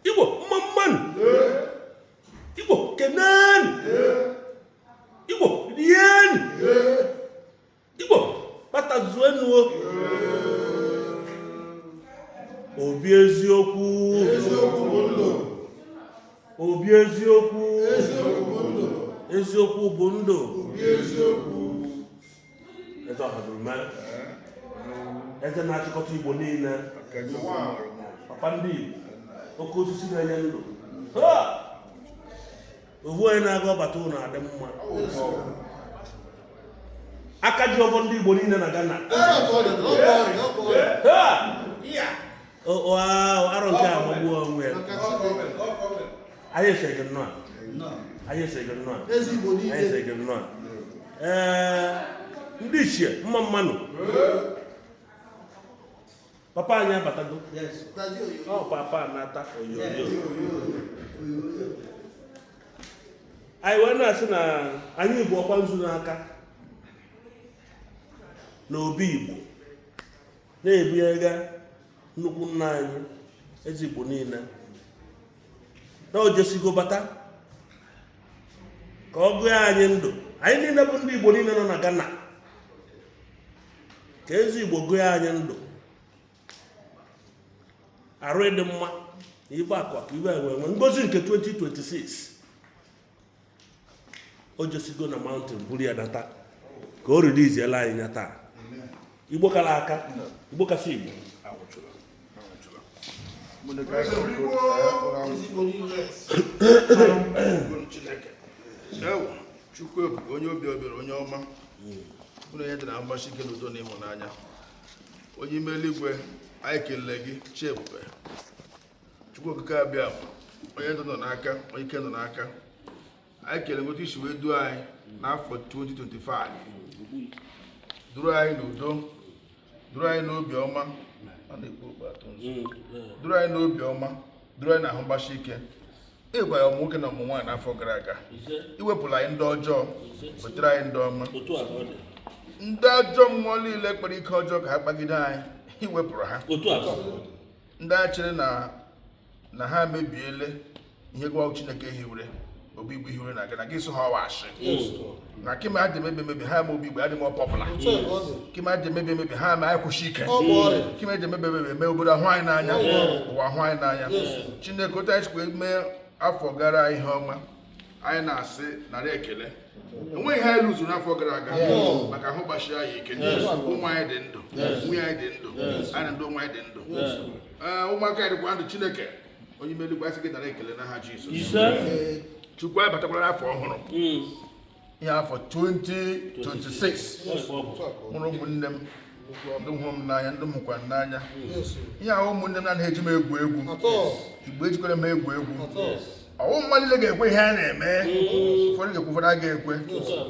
igbo mma mmanụ igbo kenenụ igbo rienụ igbo kpatazuenụ obi eziokwu obi eziokwu eziokwu bụ ndụ eze ọhazurume eze na-achịkọta igbo niile papa ndị igbo oke osisi na-enye ndụ ovu onye na-aga ọbata ụlọ adị mma aka ji ọfọ ndị igbo niile na ghana arọ nke a magbuo onwe ya anyị asị gị nnọọ anyị asị gị nnọọ anyị asị gị nnọọ ee ndị ichie mma mmanụ papa anyị abatago ọ papa na-ata oyoyo anyị wee na-asị na anyị bu ọkwa nzu n'aka na obi igbo na-ebunyega nnukwu nna anyị eze igbo niile na o jesịgo bata ka ọ gụọ anyị ndụ anyị niile bụ ndị Igbo niile nọ na Ghana ka eze Igbo gụọ anyị ndụ arụ ịdị mma na ife akụ akụ ife enwe enwe ngozi nke 2026 o jesịgo na mountain buru ya nata ka o releasiela anyị ya taa igbo kara aka igbo kasị igbo chukwu ebube onye obi ebere onye ọma ụlọ onye dị na mgbasi ike n'udo na ịhụnanya onye ime eluigwe anyị kelele gị chi ebube chukwu okike abịa onye ndụ nọ n'aka onye ike nọ n'aka anyị kelele otu i si wee duo anyị n'afọ 2025 duru anyị n'udo duru anyị n'obi ọma duru anyị n'obi ọma duru anyị n'ahụ mgbasi ike ịgwa ya ụmụ nwoke na ụmụ nwaanyị n'afọ gara aga i wepụla anyị ndị ọjọọ wetara anyị ndị ọma ndị ajọ mmụọ niile kpara ike ọjọọ ka ha kpagide anyị i wepụrụ ha ndị a chere na na ha mebiele ihe gịwa chineke hiwere obi igbo hiwere na ghana gị so ha ọwa ashị na kima adị mebe mebe ha ma obi igbo adị m ọpọpụla kima adị mebe mebe ha ma anyị kwụsị ike kima adị mebe mebe mee obodo ahụ anyị n'anya ụwa ahụ anyị n'anya chineke otu anyị sikwa mee afọ gara ihe ọma anyị na-asị nara ekele enweghị ha elu zuru n'afọ gara aga maka ahụ gbasiri anyị ike ụmụ anyị dị ndụ nwunye anyị dị ndụ anyị ndị ụmụ anyị dị ndụ ụmụaka anyị dịkwa ndụ chineke onye ime eluigwe asị gị nara ekele n'aha Jizọs chukwu anyị batakwara afọ ọhụrụ hmm. ihe afọ 2026 mụrụ ụmụnne m ndị hụrụ m n'anya ndị m hụkwa n'anya ihe ahụ ụmụnne m na eji m egwu egwu igbo ejikwara m egwu egwu ọ wụ mmadụ niile ga-ekwe ihe a na-eme ụfọdụ ga-ekwe ụfọdụ aga ekwe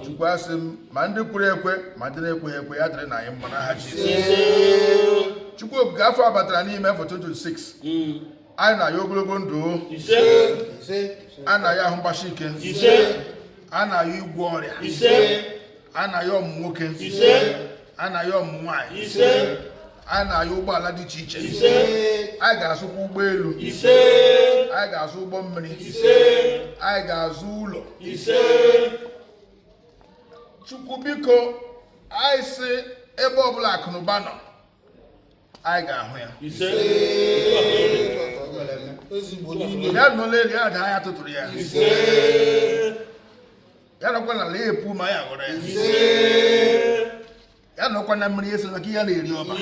chukwu asị m ma ndị kwere ekwe ma ndị na-ekweghị ekwe ya dịrị na anyị mma n'aha Jizọs chukwu okike afọ abatara n'ime afọ 2026 anyị na-ayọ ogologo ndụ ise anyị na-ayọ ahụ mgbasi ike ise anyị na-ayọ ịgwọ ọrịa ise anyị na-ayọ ọmụmụ nwoke ise anyị na-ayọ ọmụmụ nwaanyị ise anyị na-ayọ ụgbọala dị iche iche ise anyị ga-azụkwa ụgbọelu ise anyị ga-azụ ụgbọ mmiri ise anyị ga-azụ ụlọ ise chukwu biko anyị sị ebe ọbụla akụnụba nọ anyị ga-ahụ ya ya nọ n'elu ya daa anyị tụtụrụ ya ya nọkwa n'ala epu ma anyị ghọrọ ya ya nọkwa na mmiri ese maka ihe na-eri ọba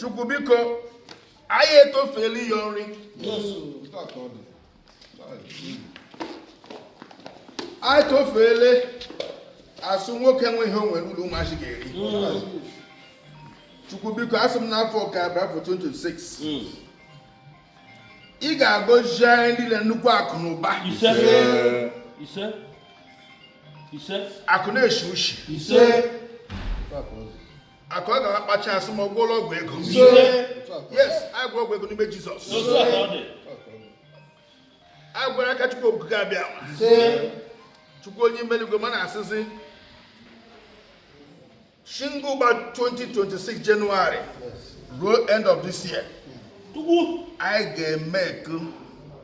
chukwu biko anyị etofeela ịyọ nri anyị tofeele asị nwoke enweghị ihe o nwere ụlọ ụmụazị ga-eri chukwu biko asị m n'afọ nke a bụ afọ 26 ị ga-agọzi anyị niile nnukwu akụ na ụba ise ise ise akụ na-eshi ushi ise akụ ọ ga-akpacha asị ma ọ gwọọla ọgwụ ego yes anyị gwọrọ ọgwụ ego n'ime jizọs anyị gwọrọ n'aka chukwu okike abịama chukwu onye ime eluigwe m na-asịzi shi ugbu a 2026 jenụwarị ruo end of this year anyị ga-eme eku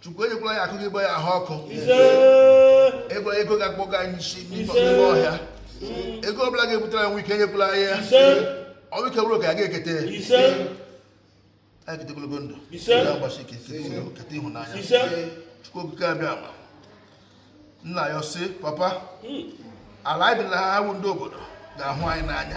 chukwu enyekwala anyị akụ ga-agba anyị ahụ ọkụ egbara ego ga-akpọga anyị isi n'ime ọhịa ego ọ bụla ga-ebutere anyị ọnwụ ike enyekwala anyị ọnwụ ike bụrụ oke anyị ga-ekete anyị kete ogologo ndụ ahụ gbasi ike kete ịhụnanya chukwu okike abịama nna anyị sị papa hmm. ala anyị dị na ha bụ ndị obodo ga-ahụ anyị n'anya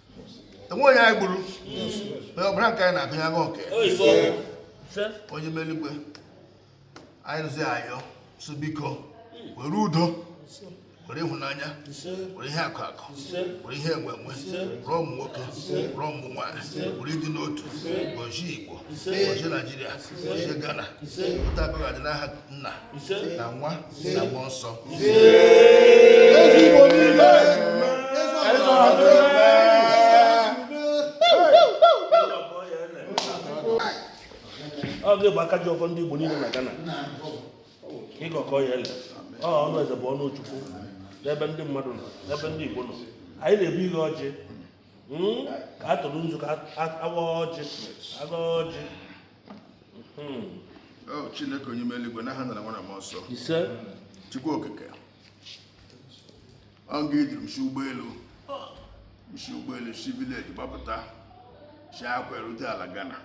enwe onye anyị gburu onye ọbụla nke anyị na-agụnye agụ nke onye ime eluigwe anyị rụzi ayọ sị biko were udo were ịhụnanya were ihe akụ akụ were ihe enwe enwe were ụmụ nwoke were ụmụ nwaanyị were ịdị n'otu gọzie igbo gọzie naijiria gọzie ghana otu a ka ọ ga-adị n'aha nna na nwa na mmụọ nsọ ọ ga-abụ aka ji ọfọ ndị Igbo niile na Ghana ịgọkọ ya ele ọ ọnụ eze bụ ọnụ Chukwu n'ebe ndị mmadụ nọ n'ebe ndị Igbo nọ anyị na-ebu ihe ọjị hmm? ka a tụrụ nzu ka a waa ọjị a gọọ ọjị Oh, chineke onye ime eluigwe n'aha nna na nwa na mmụọ nsọ ise chukwu okike ọ gị duru m si ụgbọelu m si ụgbọelu si vileji gbapụta si akwa erute ala Ghana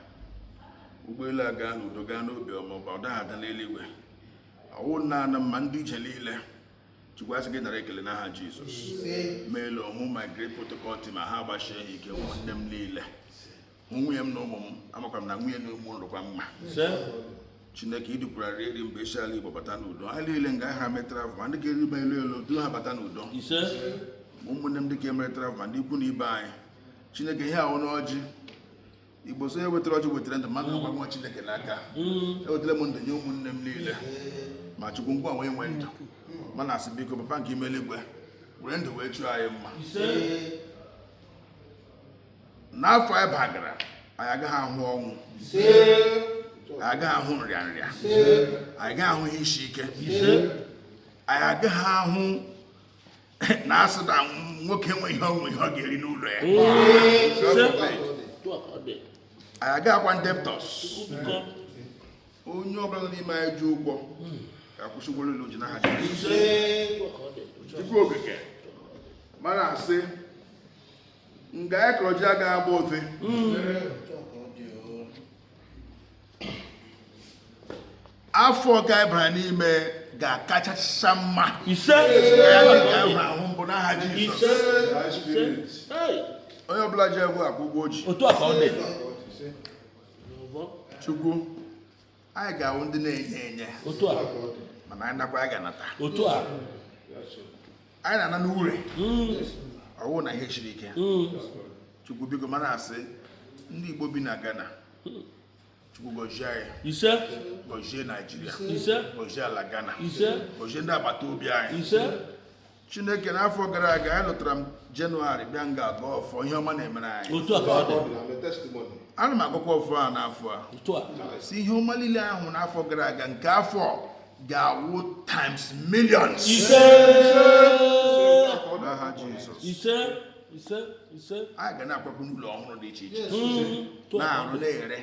ụgbọelu a gaa n'udo gaa n'obi ọma ọba ọ daghị ada n'eluigwe ọ wụ naanị ma ndị ije niile chukwu asị gị nara ekele n'aha jizọs meelu ọmụ my great protocol team ha agbasie ha ike ụmụnne m niile mụ nwunye m na ụmụ m amakwa m na nwunye na ụmụ nọrọkwa mma chineke idukwara eri mba isi ala igbo bata n'udo ha niile nga ha metara ma ndị ga-arị ụgbọelu duru ha bata n'udo ma ụmụnne m ndị ka emeretara ma ndị ikwu na ibe anyị chineke ihe a wụ ọjị igbo sị onye wetara ọjị wetara ndụ mmadụ agwa nwa chineke n'aka mm. ewetara m ndụ nye ụmụnne m niile ma chukwu gịnwa nwe ndụ m na-asị biko papa nke ime eluigwe were ndụ wee chọọ anyị mma n'afọ anyị bagara anyị agaghị ahụ ọnwụ anyị agaghị ahụ nrịanrịa anyị agaghị ahụ ihe isi ike anyị agaghị ahụ na asị na nwoke enweghị ihe ọ ga-eri n'ụlọ ya anyị agaghị awụkwa ndị debtors onye ọbụla n'ime anyị ji ụgwọ ga-akwụsị ụgwọ niile o ji n'aha Jizọs. Chukwu okike m na-asị nga anyị kọrọ ji agaghị agba ofe afọ nke a anyị bara n'ime ga-akachacha mma ise ya dị karịa afọ mbụ n'aha Jizọs onye ọbụla ji ụgwọ akwụọ ụgwọ o ji otu a ka ọ dị chukwu anyị ga-awụ ndị na-enye enye otu a mana anyị nakwa anyị ga-anata otu a anyị na-ana n'ure ọwụ na ihe siri ike chukwu biko m na-asị ndị igbo bi na ghana chukwu gọzie anyị ise gọzie naijiria ise gọzie ala ghana ise gọzie ndị agbata obi anyị ise chineke n'afọ gara aga anyị lọtara na jenụwarị bịa nga a gọọ ọfọ ihe ọma na-emere anyị otu a ka ọ dị I'm a testimony. ana m agọkwa ọfọ a n'afọ a otu a sị ihe ọma niile ahụ n'afọ gara aga nke afọ ga-awụ times millions ise n'aha Jizọs ise ise ise a ga na-akwakwu n'ụlọ ọhụrụ dị iche iche hmm. na-arụ na-ere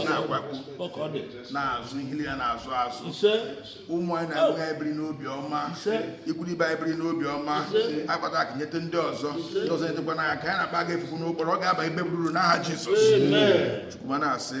na-akwakwu na-azụ ihe niile na-azụ azụ ụmụ anyị na-agụ anyị ebiri n'obi ọma ikwu na ibe ebiri n'obi ọma akpata akụ nyete ndị ọzọ ndị ọzọ nyetekwa anyị aka ka anyị na-akpa aga efufu n'okporo ọ ga-aba ibe buru n'aha Jizọs Chukwu m na-asị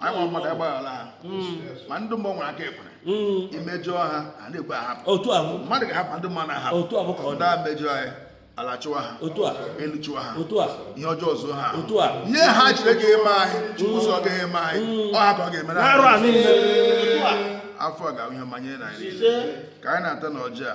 anyị nwa mmadụ agbaghara ha ma ndị mmụọ nwere aka ekwere imejọ ha a na-ekwe ahapụ otu ahụ mmadụ ga-ahapụ ndị mmadụ ahapụ otu ahụ ka ọ dị ndị na-emejọ anyị ala chụwa ha otu a elu chụwa ha otu a ihe ọjọọ zuo ha otu a ihe ha jiri ga eme anyị chukwu sọ ga eme anyị ọ hapụ ọ ga-emere n'arụ a anyị niile otu a afọ a ga-awụ ihe ọma nye anyị niile. ka anyị na-ata na ọjị a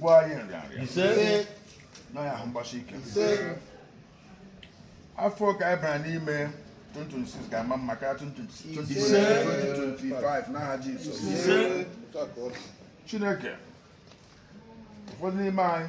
gwọọ anyị nrịanrịa ise nye anyị ahụ mgbasi ike afọ nke a anyị bara n'ime 2026 ga-ama mma karịa 2025 n'aha Jizọs chineke ụfọdụ n'ime anyị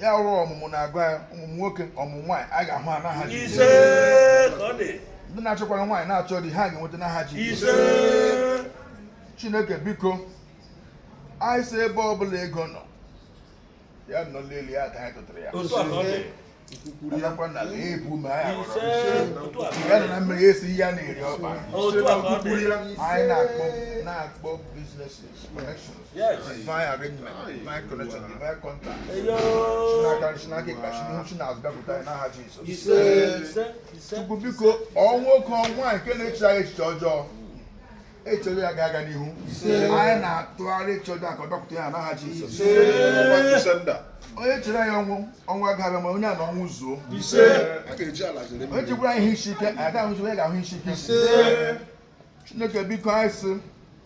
ya wụrụ ọmụmụ na-agụ anyị ọmụmụ nwoke ọmụmụ nwaanyị a ga-ahụ ha n'aha Jizọs. ise ka ọ dị ndị na-achọkwara nwaanyị na-achọ di ha ga-enweta n'aha Jizọs. ise chineke biko anyị sị ebe ọbụla ego nọ ya nọ n'elu ya ka anyị tụtara ya otu a ka ọ dị ya nọkwa n'ala epu ome anyị aghọrọ ise otu a ka ọ dị ya nọ na mmiri ya esi ihe a na-eri ọba otu a ka ọ dị anyị na-akpọ na-akpọ businesses connections Yes. divine arrangement, divine connection, divine contact. Si n'aka nri si n'aka ịkpa si n'ihu si n'azụ bịakwute anyị n'aha Jizọs. Chukwu biko ọ nwoke ọ nwaanyị na-eche anyị echiche ọjọọ echọrọ ya ga-aga n'ihu anyị na-atụgharị echiche ọjọọ ka ọ bịakwute ya n'aha Jizọs. Onye chere anyị ọnwụ ọnwụ ga-abịa ma onye a na ọnwụ zuo. Onye chekwara ihe isi ike, anyị agaghị ahụzi onye ga-ahụ isi ike. chineke biko anyị sị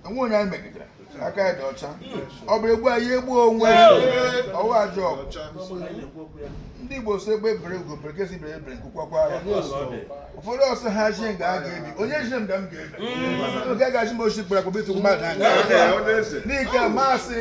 enweghị onye anyị megidere aka anyị dị ọcha ọ bịa egbu anyị egbuo onwe ya awụghị ajọ ọgwụ ndị igbo sị egbe bere ugo bere nke sị ibe ya ebela nku kwakwaa ya ụfọdụ asị ha zi nga a ga-ebe onye zi nga m ga-ebe oge agaghị m ochi kpere akpọbitụ mmadụ anya n'ike masị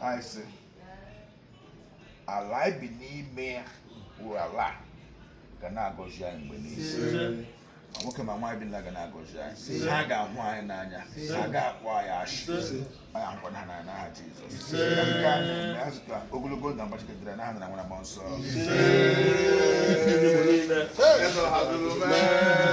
anyị sị ala anyị bi n'ime ya wụ ala a ga na-agọzi anyị mgbe niile ma nwoke ma nwaanyị bi n'ala ga na-agọzi anyị ha ga-ahụ anyị n'anya ha ga-akpọ anyị ashị anyị ahụkwa na ha n'anya n'aha Jizọs Ka nke a na-eme azụ ka ogologo ndụ agbachikọtara n'aha nna na nwa na mmụọ nsọ Eze hazuru mee